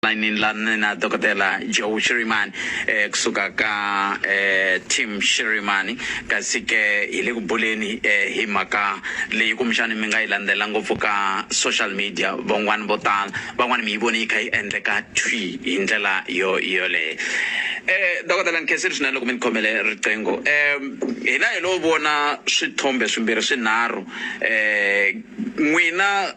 layinini la ni na dokodela joe shirimani eh, kusuka ka eh, team shirimani kasi ke hi le ku buleni eh, hi mhaka leyi kumbexani mi nga yi landzela ngopfu ka social media van'wani vo tala van'wani mi yi vone yi kha yi endleka twi hi ndlela yo yoleyo eh dokodela nkesiri swinene loko mi ni khomele riqingho um hina hi lo vona swithombe swimbirhi swinharhu um n'wina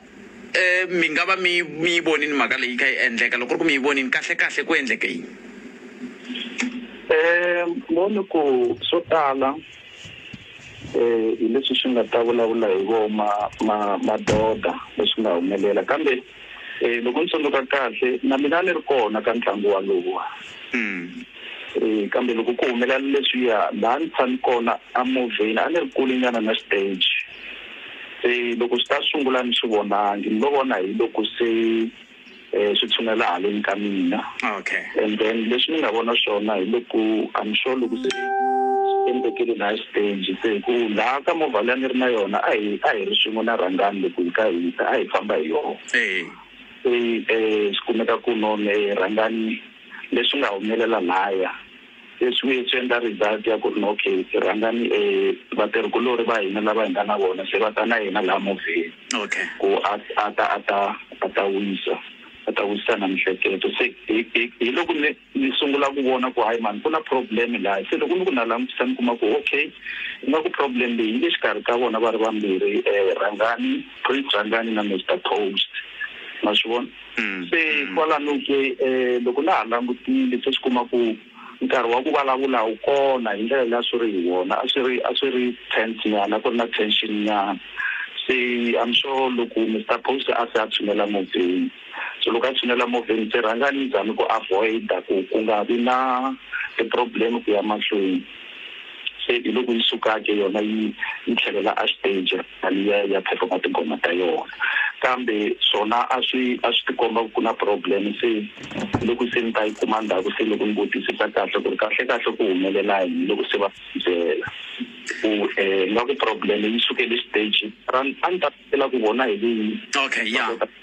mi nga va mi mi yi vonini mhaka leyi yi kha yi endleka loko ri ku mi yi vonini kahle kahle ku endleke yini um voni ku swo tala um hi leswi swi nga ta vulavula hi vo ma ma madoda leswi nga humelela kambe um loko ni tsundzuka kahle na mina ni ri kona ka ntlangu walowa hmm. Kambe loko ku humelela leswiya, laha ni tshami kona emovheni a ni ri kulenyana na xiteji. Se loko swi ta sungula a ni swi vonangi, ni lo vona hi loko se swi tshunela haleni ka mina. And then leswi ni nga vona swona hi loko I'm sure loko se swi endlekele laha xiteji se hi ku laha ka movha leyi a ni ri na yona a hi a hi ri swin'we na Rhangani loko hi kha hi ta a hi famba hi yona. Se swi kumeka ku no Rhangani. Leswi nga humelela lhaya se swi vuye swi endla result ya ku ri ok rhangani vatirhikulori va hina lava hi nga na vona se va ta na yena laha movheni ku a a ta a ta a ta wisa a ta wisisa na mihleketo se hi hi hi loko ni ni sungula ku vona ku hayi mhani ku na problem laha se loko ni ku na langutisa ni kuma ku ok ingaku problem leyi yi le xikarhi ka vona va ri vambirhi rhangani Prince Rhangani na Mister Post ma swi vona. Se kwalano ke loko na ha langutile se swi kuma ku nkarhi wa ku vulavula wu kona hi ndlela leyi a swi ri hi wona a swi ri a swi ri tense nyana a ku ri na tension nyana se I'm sure loko Mister Post a se a tshunela movheni so loko a tshunela movheni se rhanga ni zami ku avoid-a ku ku nga vi na ti-problem ku ya mahlweni se hi loko yi suka-ke yona yi yi tlhelela a xiteji. Malia ya performa tinghoma ta yona kambe swona a swi a swi tikomba ku na problem se loko se ni ta yi kuma ndhaku se loko ni vutisisa kahle ku ri kahle kahle ku humelela yini loko se va byela ku um nga ku problem yi sukele stage a ni ta tsakela ku vona hi vini okay ya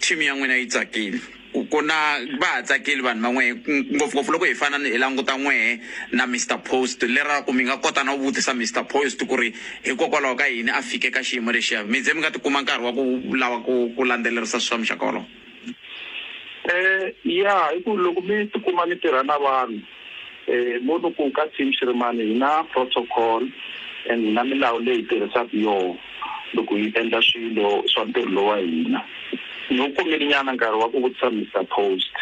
Team ya n'wina yi tsakile ku ku na va ha tsakile vanhu va n'wehe ngopfungopfu loko hi fana ni hi languta n'wehe na Mister Post leraku mi nga kota na ku vutisa Mister Post ku ri hikokwalaho ka yini a fike ka xiyimo lexiya mi ze mi nga ti kuma nkarhi wa ku lava ku ku landzelerisa swa muxaka wolowo. Ya hi ku loko mi ti kuma mi tirha na vanhu Mo loko ka team xi ri mani hi na protocol and hi na milawu leyi hi tirhisaka yoho loko hi endla swilo swa ntirho lowa hina. Ni wu kumile nyana nkarhi wa ku vutisa Mister Post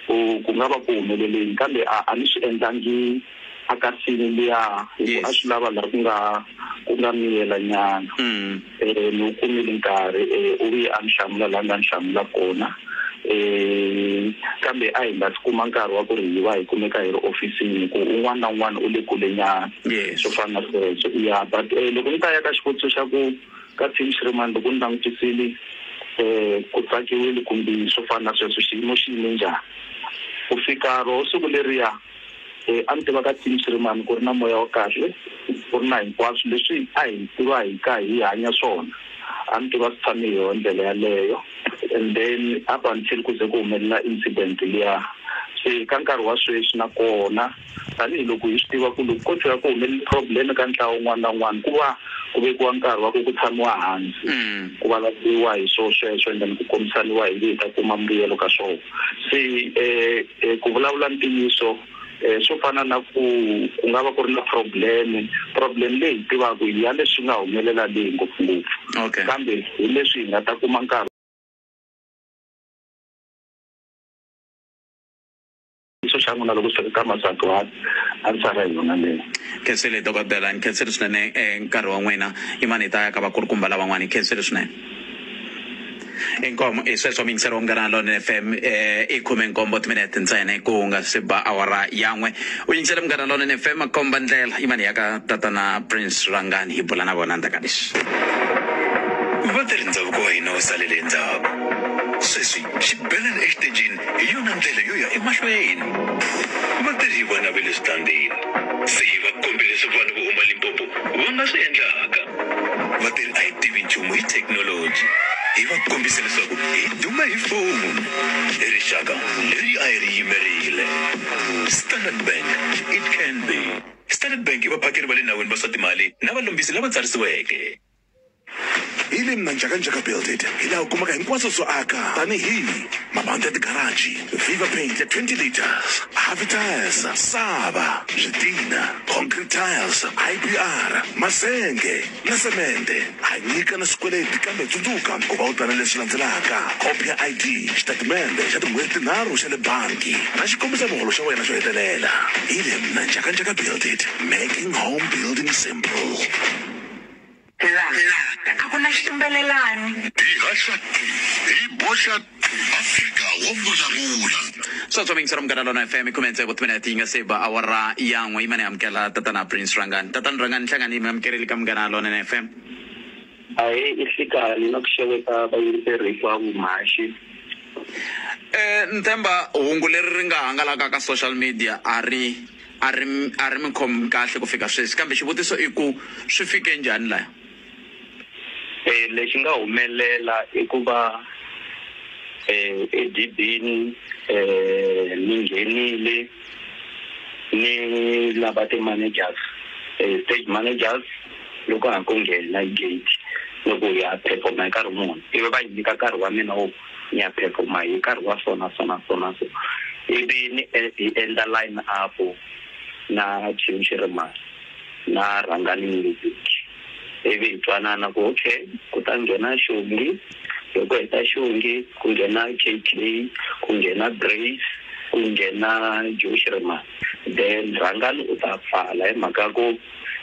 ku ku nga va ku humelele yini kambe a a ni swi endlangi a ka scene liya hi ku a swi lava la ku nga ku nga miyela nyana. Ni wu kumile nkarhi, u vuye a ni hlamula laha a nga ni hlamula kona. Kambe a hi nga si kuma nkarhi wa ku ri hi va hi kumeka hi ri ofisini hi ku un'wana na un'wana u le kulenyana, swo fana na sweswo. Ya but loko ni ta ya ka xivutiso xa ku ka team xi ri mani, loko ni langutisile ku tsakiwile kumbe swo fana na sweswo, xiyimo xi yime njhani ku fika roho siku leriya, Loyi a mi tiva ka Tim Shirimani ku ri na moya wa kahle, ku ri na hinkwaswo leswi a hi tiva hi ka hi hanya swona. A mi tiva swi tshame hi yoho ndlela yaleyo and then up until ku ze ku humelela incident liya. Se ka nkarhi wa sweswi na kona tanihiloko hi swi tiva ku loko ko tshuka ku humelele problem eka ntlawa wun'wana na wun'wana ku va ku vekiwa nkarhi wa ku ku tshamiwa hansi ku vulavuriwa hi swo sweswo and then ku kombisaniwa hi ngi hi ta kuma mbuyelo ka swona. Se ku vulavula ntiyiso swo fana na ku ku nga va ku ri na problem problem leyi hi tivaka hi ya leswi nga humelela leyi ngopfungopfu Okay. kambe hi leswi hi nga ta kuma nkarhi xo xa n'wina loko swi ri ka masagwadi a ni sara hi yona leyo khensile dokodela ni khensile swinene eh, nkarhi wa n'wina yimani hi ta ya ka vakulukumba lavan'wana hi khensile swinene inkomu i sweswo mingiselo munghana lone fm eh, i khume nkombo timinete ntsena ku nga si ba awara yan'we u yingisele munghana lone fm komba ndlela yimani ya ka tatana prince rangani hi bula na vona ndzaka leswi vatirhi ndhavuko wa hina wu salele endzhaku sweswi xibelani exitejini Hi yona ndlela yo ya emahlweni. Vatirhi hi vona va le switandini. Se hi va kombe leswi vanhu vo huma Limpopo va nga swi endlaka. Vatirhi a hi tivi nchumu hi thekinoloji. Hi va kombise leswaku hi duma hi foni. I rixaka leri a hi ri yimerile. Standard Bank, it can be. Standard Bank i vaphakeri va le nawini va swa timali na valombisi lava tsarisiweke. Hi le Mnanjakanjaka Buildit hi laha u kumaka hinkwaswo swo aka tanihi mabandi ya tigaraji, Viva Paint ya 20 litres, Havi Tyres, Saba, Switina, Concrete Tiles, IBR, masenge na semende. Ha nyika na swikweleti kambe tsundzuka ku va u ta na leswi landzelaka, khopi ya ID, xitatimende xa tin'hweti tinharhu xa le bangi na xikombisa muholo xa wena xo hetelela. Hi le Mnanjakanjaka Buildit, making home building simple. La, a ku na xitumbelelani. Hi haxa ti, hi boxa ti. Afrika wo vulavula. swa swa mixer munghana lona fm khume ntsevu timinete yi nga se ba awara ya n'we yima ni amukela tatana prince rangani tatana rangani hlangani mi amukeleli ka munghana lona na fm ahee i hlikani na ku xeweta vayingiseri hinkwavo mhaxi um ni tshemba hungu leri ri nga hangalaka ka social media a ri a ri a ri mi khom kahle ku fika sweswi kambe xivutiso i ku swi fike njhani laya. Lexi nga humelela i ku va edibini ni nghenile ni lava ti managers stage managers loko ha ku nghena gate loko hi ya perform-a hi karhi muni ivi va hi nyika nkarhi wa mina wo. Nyaphepho ma hi nkarhi wa so na so na so na so ivi ni hi endla line up na team xi ri ma na rhangani music ivi hi twanana ku okay ku ta nghena xongi loko hi ta xongi ku nghena KK ku nghena Grace ku nghena Joe xi ri ma then rhangani u ta pfala hi mhaka ku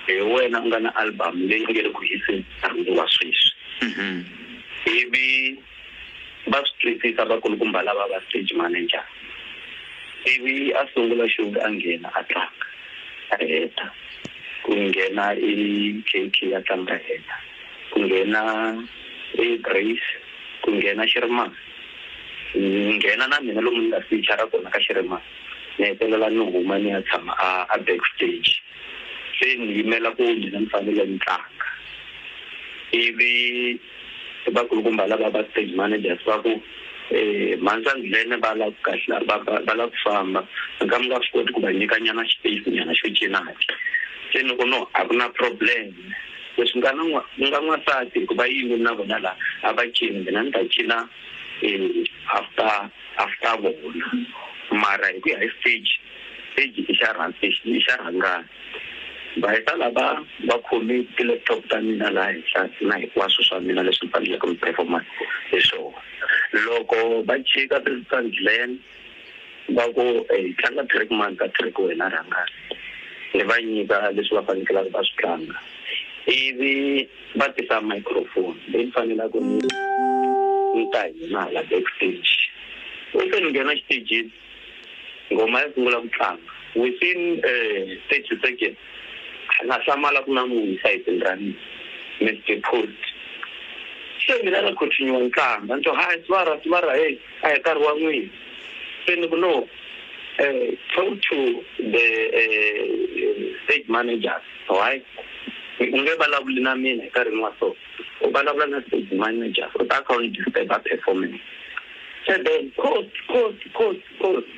hi wena u nga na album leyi nge le ku hiseni nkarhi wa sweswi ivi va swi twisisa vakulukumba lava va stage manager. Ivi a sungula Shug a nghena a tlanga a heta ku nghena i KK a tlanga heta ku nghena i Grace ku nghena Xirimani ni nghena na mina lomu ni nga feature kona ka Xirimani ni hetelela ni huma ni ya tshama a a back stage se ni yimela ku mina ni fanele ni tlanga ivi i vakulukumba lava va stage managers va ku um mhansandlene va lava ku kahla va lava ku famba ka mi nga swi koti ku va nyika nyana space nyana xo cinaka se ni ku no a ku na problem leswi nga na ni nga n'wansati hikuva yini na vona laha a va cini mina ni ta cina um after after vona mara hi ku ya hi stage stage i xa i xa rhangana va heta lava va khome ti-laptop ta mina laha henhla na hinkwaswo swa mina leswi ni faneleke ni performa hi swona loko va chika tisandleni va ku hi tlanga track mani ka track wena rhanga ni va nyika leswi va fanekelaka va swi tlanga ivi va tisa microphone leyi ni fanelaka ni ni ta hina hala backstage u se ni nghena xitejini Ngoma ya sungula ku tlanga. Within thirty seconds a na hlamala ku na munhu esayitini ra mina. Mister Pult, Se mina na continue ni tlanga ni twa hayi Sibara, Sibara heyi a hi nkarhi wa n'wina. Se ni ku no talk to the stage manager why u nge vulavuli na mina hi nkarhi wa so. U vulavula na stage manager u ta a kha a ni disturb-a performance. Seven, Khosi, Khosi, Khosi, Khosi!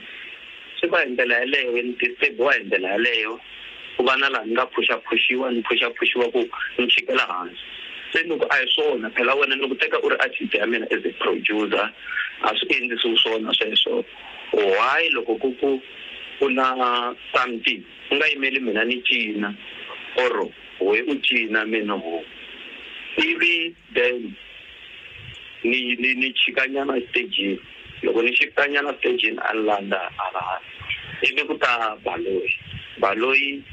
Swi va hi ndlela yaleyo, hi disturb-iwa hi ndlela yaleyo, ku va na laha ni nga phuxaphuxiwa ni phuxaphuxiwa ku ni chikela hansi. Se ni ku a hi swona, phela wena ni ku teka u ri artist ya mina as a producer, a swi endlisiwi swona sweswo. Why loko ku ku ku na something u nga yimeli mina ni cina or wehe u cina mina ho? Ivi. Then ni ni ni chika nyana stage loko ni xikita nyana stage ni a ni landza hala hansi ivi ku ta baloyi baloyi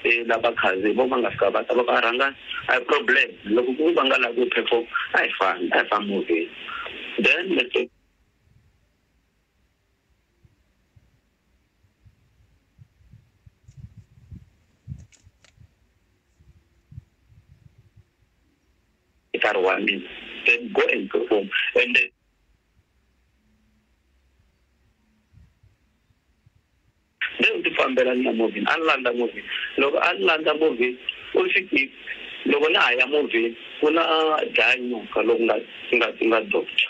e lava khandziyi vo va nga fika va ta loko a rhanga a hi problem loko ku va nga lavi ku perform a hi fambi a hi fambi movheni then nkarhi wa mina then go and perform and then Se u tifambela ni ya movheni, a ni landza movheni. Loko a ni landza movheni, u ri, Xikivi, loko na ha ya movheni ku na dlaya nyoka loku nga nga nga doctor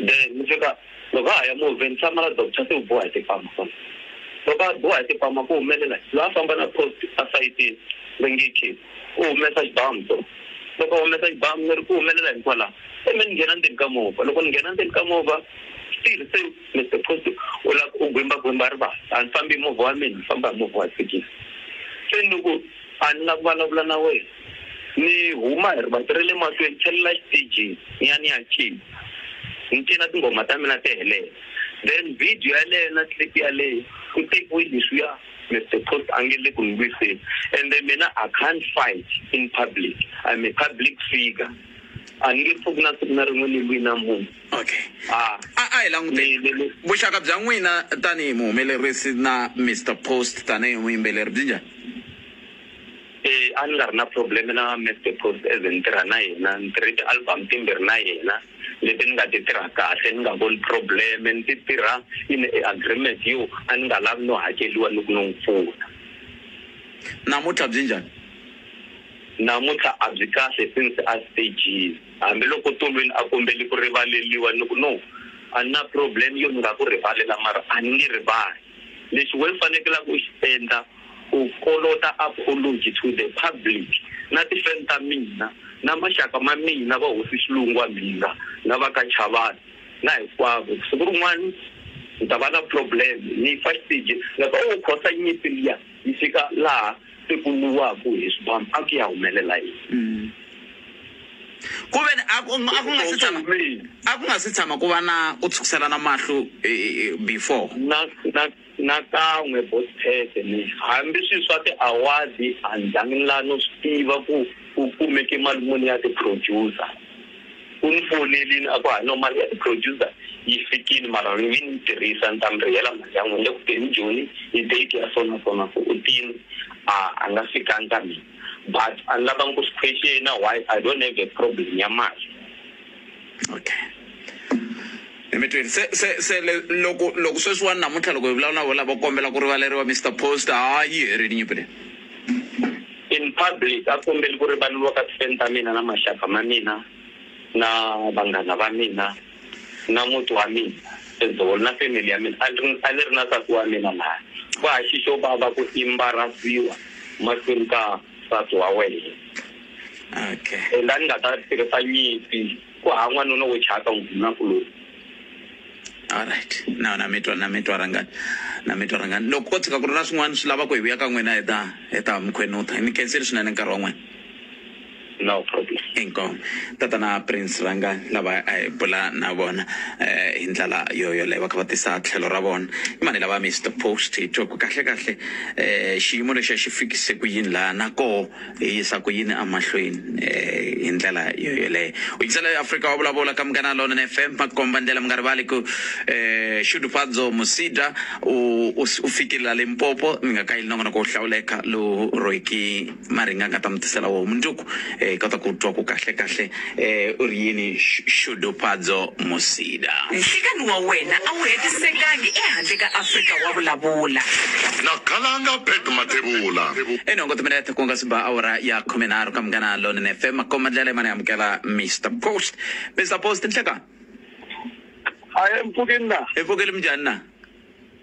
then ni fika loko ha ha ya movheni tshama la doctor se u biwa hi timpama kwala. Loko a biwa hi timpama ku humelela yini? Loyi a famba na post a sayitini va nge ke u humesa xibamu so, loko a humesa xibamu ni ri ku humelela yini kwala? Se me ni nghena ndzeni ka movha, loko ni nghena ndzeni ka movha still se. Mister Phusi u lava ku gwimba gwimba rivala a ni fambi hi movha wa mina ni famba hi movha wa thekisi se ni ku a ni la ku vulavula na wena ni huma hi rivati ra le mahlweni tlhelela exitejini ni ya ni ya cina ni cina tinghoma ta mina ti helela then video yaleyo na clip yaleyo ku tekiwe leswiya Mister Phusi a nge le ku ni lwiseni ende mina I can't fight in public I'm a public figure a ni nge pfuki na siku na rin'we ni lwi na munhu. Okay. Ah. A a hi languteni. Ni- ni- Vuxaka bya n'wina tanihi muhumelerisi na Mr Post tanihi muyimbeleri byi njhani? Eh, a ni nga ri na problem na Mr Post as ni tirha na yena ni tirhe ti-album timbirhi na yena leti ni nga ti tirha kahle ni nga voni problem ni ti tirha in a agreement yo a ni nga lavi no hakeliwa ni ku no n'wi pfuna Namuntlha byi njhani? namuntlha a byi kahle since a stagile Hambi loko Tolweni a kombeli ku rivaleliwa ni ku no, a ni na problem yo ni nga ku rivalela mara a ni nge rivali. Lexi wena u fanekelaka u xi endla u kolota apology to the public na ti fan ta mina na maxaka ma mina va hosi Xilungu wa Mhinga na va ka Chavani na hinkwavo ku siku rin'wana ni ta va na problem ni fa xiteji ni nga ku oh Khosa nyimpi liya yi fika laha se ku nwiwaku hi swibamu a ku ya humelela yini? Ku ve ni a ku a ku nga si tshama a ku nga si tshama ku va na ku tshukiselana mahlo hi hi before. Na na nakan'we boss Pete ni hambi swi swa ti-award a ni zangi ni la no swi tiva ku ku kumeke mali muni ya ti-producer. U ni fonerile a ku, Hayi, no, mali ya ti-producer yi fikile, mara ni nge ni tirhisa, ni ta mi rihela mali ya n'wina. Ni le ku teni Joni, hi date ya so na so na so. U tini, A a nga fikanga ka mina. But a ni lavanga ku swi question-a, why I don't have a problem ya mali. Okay. Ni mi twile. Se, se, se le, loko, loko sweswiwani namuntlha loko hi vulavula na vona lava, kombela ku rivaleriwa Mister Post, ha yi herile nyimpi leyi. In public, a kombeli ku rivaleriwa ka tifeni ta mina na maxaka ma mina na vanghana va mina na muti wa mina as whole na family ya mina. A ni a ni ri na nsati wa mina laya ku ha xi xo vava ku imbarasiwa mahlweni ka nsati wa wena and a ni nga ta tirhisa nyimpi. Ku hava n'wanuna wo chava ka ndhunakuloni. Alright na na mitwa na mitwa rhangani na mitwa rhangani loko ko tshika ku ri na swin'wana swi lava ku hi vuya ka n'wina hi ta hi ta mi khwenutha hi mi khensile swinene nkarhi wa n'wina. No problem. Inkomu tatana Prince rhangani lava a hi bula na vona hi ndlela yo yoleyo va kha va tisa tlhelo ra vona i mani lava Mister Post hi twa ku kahle kahle xiyimo lexiya xi fikise ku yini laha na koho Hi yisa ku yini emahlweni hi ndlela yo yoleyo? U yingisela yo Afrika wa vulavula ka Munghana Lonene FM, makomba ndlela. Mi nga rivali ku Shudufadzo Musida u u u fikile la Limpopo, mi nga kayeli nongonoko wo hlawuleka lowu Rooiki Maringa a nga ta mi tisela wona mundzuku hi kota ku twa ku kahle kahle Eh, u ri yini Sh- Shudupadzo Musida? Nhlikani wa wena a wu hetisekangi ehandle ka Afrika wa vulavula. na Khalanga Pat Mathebula. Enongo timinete ku nga si ba awara ya khumenharhu ka Munghana Lonene FM makoma ndlela yimani amukela Mr Post Mr Post nhleka a hi mpfukini na hi pfukeli minjhani na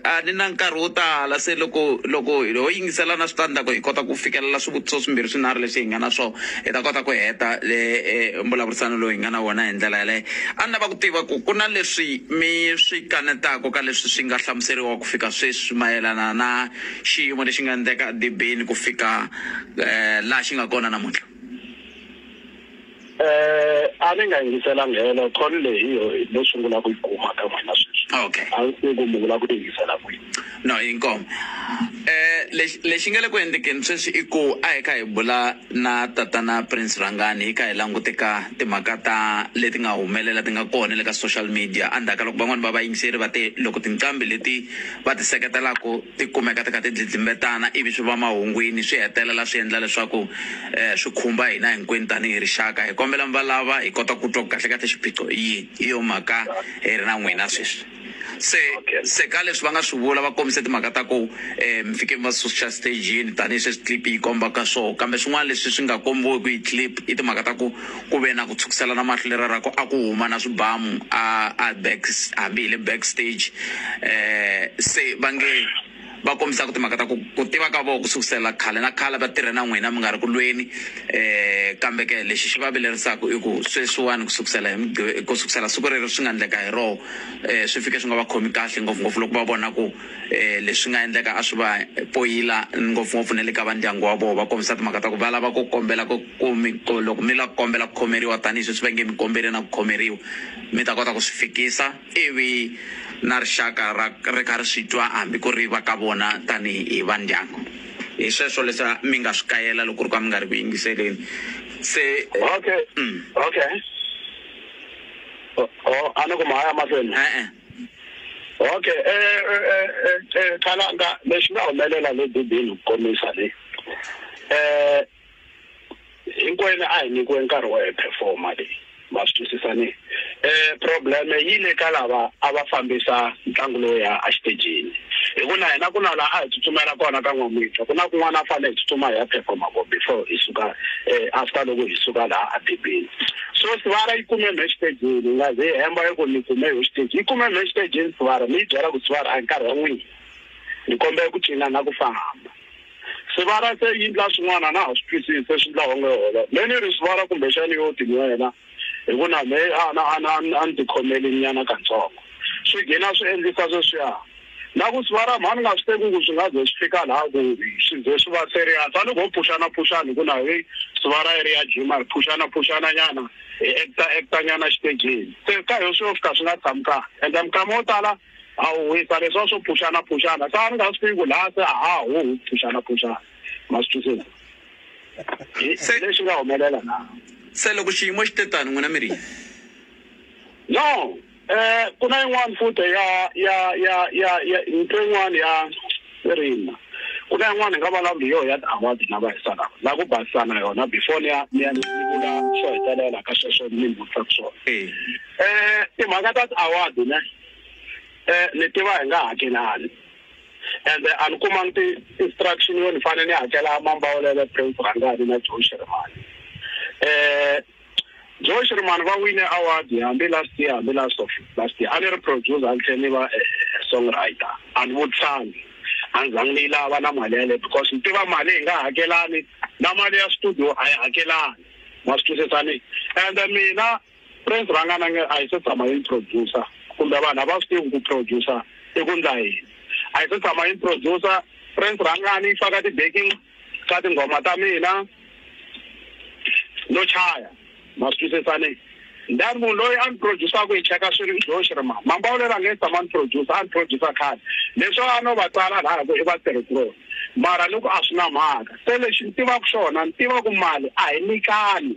A ni na nkarhi wo tala se loko loko ho yingisela na switandzhaku hi kota ku fikelela swivutiso swimbirhi swinharhu leswi hi nga na swo hi ta kota ku heta le mbulavurisano lowu hi nga na wona hi ndlela yaleyo a ni lava ku tiva ku ku na leswi mi swi kanetaku ka leswi swi nga hlamuseriwa ku fika sweswi mayelana na xiyimo lexi nga ndleka edibeni ku fika laha xi nga kona namuntlha. Eh, a ni nga yingiselanga helo call leyi yo no sungula ku yi kuma ka n'wina sweswi okay a ni se ku mi vula ku yi yingisela kwihi no inkomo eh lexi lexi nga le ku endlekeni sweswi i ku a hi kha hi bula na tatana prince rhangani hi kha hi langute ka timhaka ta leti nga humelela ti nga kona le ka social media endzhaku ka loko van'wani va vayingiseri va te loko tinqambi leti va ti seketelaka ti kumeka ti kha ti dlidlimbetana ivi swi va mahungwini swi hetelela swi endla leswaku swi khumba hina hinkwenu tanihi rixaka hi kombela mi va lava hi kota ku twa ku kahle kahle xiphiqo i yini hi yo mhaka hi ri na n'wina sweswi se se ka leswi va nga swi vula va kombise timhaka ta ku mi fike mi va susa stejini tanihileswi clip yi kombaka swoho kambe swin'wana leswi swi nga kombiweki hi clip i timhaka ta ku Ku ve na ku tshwukiselana mahlo leriya ra ku a ku huma na swibamu a a back hambi hi le back stage se va nge va kombisa ku timhaka ta ku ku tiva ka vona ku sukusela khale na khale va tirhe na n'wina mi nga ri ku lweni kambe ke lexi xi va vilerisaka i ku sweswiwani ku sukusela hi ku sukusela siku rero swi nga endleka hi roho swi fike swi nga va khomi kahle ngopfungopfu loko va vona ku leswi nga endleka a swi va poyila ngopfungopfu na le ka va ndyangu wa vona va kombisa timhaka ta ku va lava ku kombela ku Ku mi, ku loko mi lava ku kombela ku khomeriwa tanihi sweswi va nge mi kombele na ku khomeriwa, mi ta kota ku swi fikisa ivi na rixaka ra, ri kha ri swi twa hambi ku ri va ka vona tanihi va ndyangu. Hi sweswo leswi mi nga swi kayela loko ku ri ku a mi nga ri ku yingiseleni. Se, Okay, mm. okay. O, o, a ni ku ma ha ya mahlweni? E-e. Okay, e, e, e, e, e, Khalanga, lexi nga humelela le Bibini ku komisa le, e, hinkwenu a hi nyikiwe nkarhi wo hi performa leyi ma swi twisisa ni um problem yi le ka lava a va fambisa ntlangu lowu ya exitejini hi ku na hina ku na laha a hi tsutsumela kona ka n'wamitwa ku na kun'wana a fanele hi tsutsuma hi ya performa ko before hi suka um after loko hi suka laha a dibini so sivara yi kume mhe xitejini yi nga ze yi hemba yi ku ni kume hi xitejini yi kume mhe xitejini sivara mi yi byela ku sivara a hi nkarhi wa n'wina ni kombela ku cina na ku famba Swivala se yi ndla swin'wana a na ha swi twisisi se swi ndla onge holo me ni ri swivala kumbexani yo ti nwela hi ku na me a na a na a ni tikhomeli nyana katsongo swi gina swi endlisa sweswiya na ku swivala mhani nga swi teki ku swi nga ze swi fika laha ku swi ze swi va serious a ni ko phuxana phuxana hi ku na heyi swivala yi ri ya jima hi phuxana phuxana nyana hi actor actor nyana xitejini se ka hi yo swi yo fika swi nga tshami kahle ende minkama yo tala A wu wisa leswiya swo phuxana-phuxana. Xana ni nga swi tivi ku laha se a ha hu phuxana-phuxana? Ma swi twisisa? Hi Se- leswi nga humelela na. Se loko xiyimo xi te tano, n'wina mi ri yini? No, eh, ku na yin'wana futa ya, ya, ya, ya, ya, ni twe yin'wana ya. Irina, ku na yin'wana hi nga valavula hi yona ya ti-award na vahisa lava na ku basisa na yona before ni ya ni ya ni vula swo hetelela ka sweswo ni mi vutisaka swona timhaka ta ti-award ne ni tiva hi nga hakelani ende a ni kumangi ti-instruction yo ni fanele ni hakela Mambawulele Prince Rhangani na Joe Shirimani . Joe Shirimani va wine award hambi last year hambi last of last year a ni ri producer a ni tlhela ni va eh, eh, songwriter a ni vutlhani a ni zangi ni yi lava na mali yaleyo because ni tiva mali hi nga hakelani na mali ya studio a yi hakelani ma swi twisisani and mina prince rhangana nge a yi se tshama yi ni producer kumbe vanhu a va swi tivi ku producer i ku ndla yini a yi se tshama yi ni producer prince rhangani yi faka ti-baking Ka tinghoma ta mina no chaya, ma swi twisisa ne? Then munhu loyi a ni produce-aku hi cheka swi ri Josh ri ma. Mambawulela a nge se tshama a ni produce, a ni produce khale. Leswo a no va tsala lahaya ku i vatirhikuloni mara ni ku a swi na mhaka. Se lexi ni tivaku xona ni tiva ku mali a hi nikani.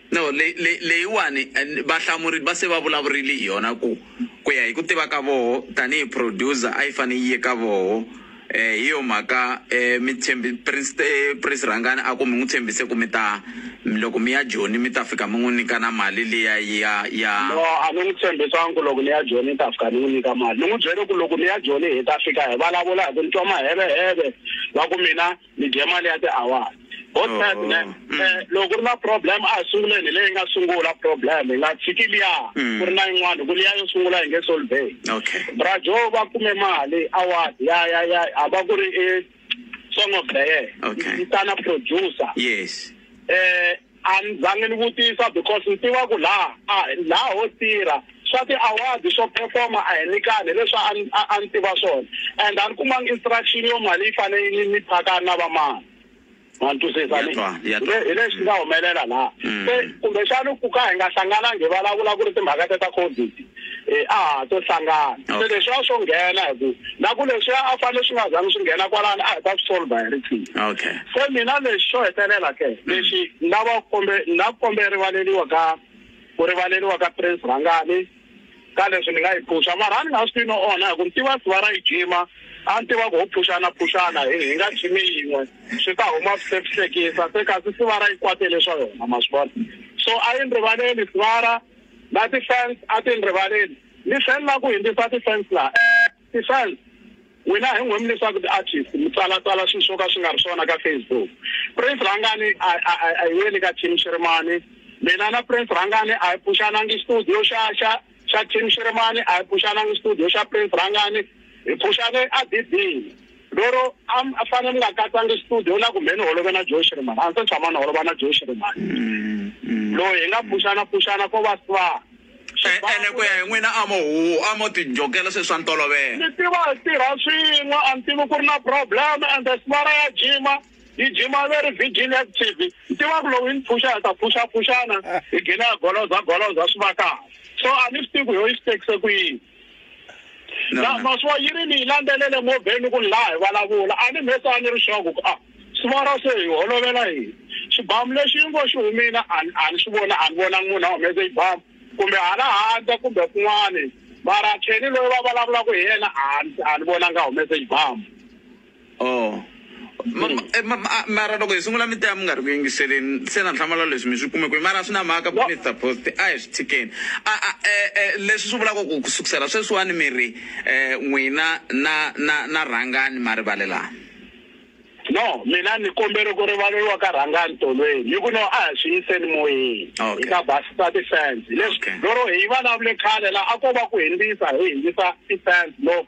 No, leyi, leyi, leyiwani and vahlamuri va se va vulavurile hi yona ku ku ya hi ku tiva ka voho tanihi producer a yi fane yi ye ka voho eh hi yo mhaka eh mi tshembi Prince eh, Prince Rhangani a ku mi n'wi tshembise ku mi ta loko mi ya Joni mi ta fika mi n'wi nyika na mali liya ya ya No, a ni n'wi tshembisanga ku loko ni ya Joni ni ta fika ni n'wi nyika mali. Ni n'wi byele ku loko ni ya Joni hi ta fika hi vulavula hi ku ni twa maheveheve va ku mina ni dye mali ya tiawara ho oh. sad ne mm. eh, loko ku ri na problem a hi sunguleni hi leyi nga sungula problem hi nga tshiki liya mm. ku ri na yin'wana ku liya yo sungula hi nge solvey brajo va kume mali award ya ya ya a va ku ri i song of the year yi tana producer yes um A ni zangi ni vutisa because ni tiva ku laha a laha ho tirha swa ti award swo perform a hi nikani hi leswi a ni a a ni tiva swona and a ni kumanga instruction yo mali yi fane yi ni phakani na vamani ma ni twisisa Ni twa, ni ya twa. hi leswi nga humelela laha se kumbexani ku ka hi nga hlanganangi hi vulavula ku ri timhaka te ta covid eh, a ha to hlangana se Okay. leswi a swo nghena hi ku na ku leswi a fanele swi nga zangi swi nghena kwalani a hi ta swi solva hi riqhingo okay se mina lexi xo hetelela ke lexi ni lava ku kombe ni lava ku kombe rivaleliwa ka ku rivaleliwa ka prince rhangani ka leswi ni nga yi phuxa mara a ni nga swi tivi no onha hi ku ni tiva siva ra yi jima a ni tiva ku ho phuxana phuxana hi hi nga jimi yin'we swi ta huma swihlekisa se kasi siva ra yi kwatele swa yona ma swi vona so a yi ni rivaleli sivara na ti-fans a ti ni rivaleli. Ni tlhelela ku hindzisa ti-fans laha. Eeh, ti-fans! N'wina hi n'wemi leswaku ti-artist mi tsalatsala swilo swo ka swi nga ri swona ka Facebook. Prince Rhangani a a a a hi yeni ka Team Shirimani. Mina na Prince Rhangani a hi phuxanangi studio xa xa xa Team Shirimani, a hi phuxanangi studio xa Prince Rhangani. Hi phuxane eDidini. Lero a a fane ni nga katsanga studio na kumbe ni holove na Joe Shirimani a ndzi se tshama ni holova na Joe Shirimani mm, mm. loyi hi nga pfuxana pfuxana ko va swa eh, ene ku ya hi n'wina a mo huhu a mo tinjokela se swa ntolovela ni tiva hi tirha swin'we a ni tivi ku ri na problem and the smara ya jima yi jima ve ri vigil active ni tiva ku lowu yi ni pfuxa hi ta pfuxapfuxana hi gina ya goloza goloza swi va kahle so a ni swi tivi ku yo yi swi tekise ku yini Na maswa yi ri ni yi landzelele movheni ku ni laha hi vulavula. A ni mhesa a ni ri swa ku, A swi vona se hi holovela yini? Xibamu lexi yi ngo xi humile a ni a ni xi voni, a ni vonangi munhu a humese xibamu kumbe hala handle kumbe kun'wani, mara Kenny loyi va vulavulaka hi yena a ni a ni vonangi a humese xibamu. Oh. Ma- ma- eh, ma- ma- mara loko hi sungula mi taya mi nga ri ku yingiseleni se na nhlamala leswi mi swi kume kwihi mara swi na mhaka No. minister post a hi swi tshikeni a a eh, eh, leswi swi vulaka ku ku sukusela sweswiwani mi ri um n'wina na na na rhangani ma rivalelana no mina ni kombele ku rivaleriwa ka rhangani tolweni hi ku no a hi swi yiseni moyeni Okay. hi ta basisa ti-fans leswi Okay. lero hi vulavule khale la a ko va ku hindzisa hi hindzisa ti-fans no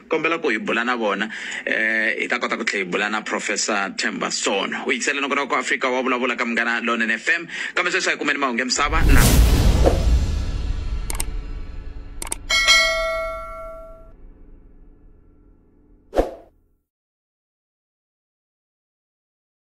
kombela ku hi bula na vona eh hi ta kota ku tlhela hi bula na professor Themba Sono u yingisele nongonoko ku Afrika wa vulavula ka munghana lonene FM kambe sweswi a hi kumeni mahungu misava na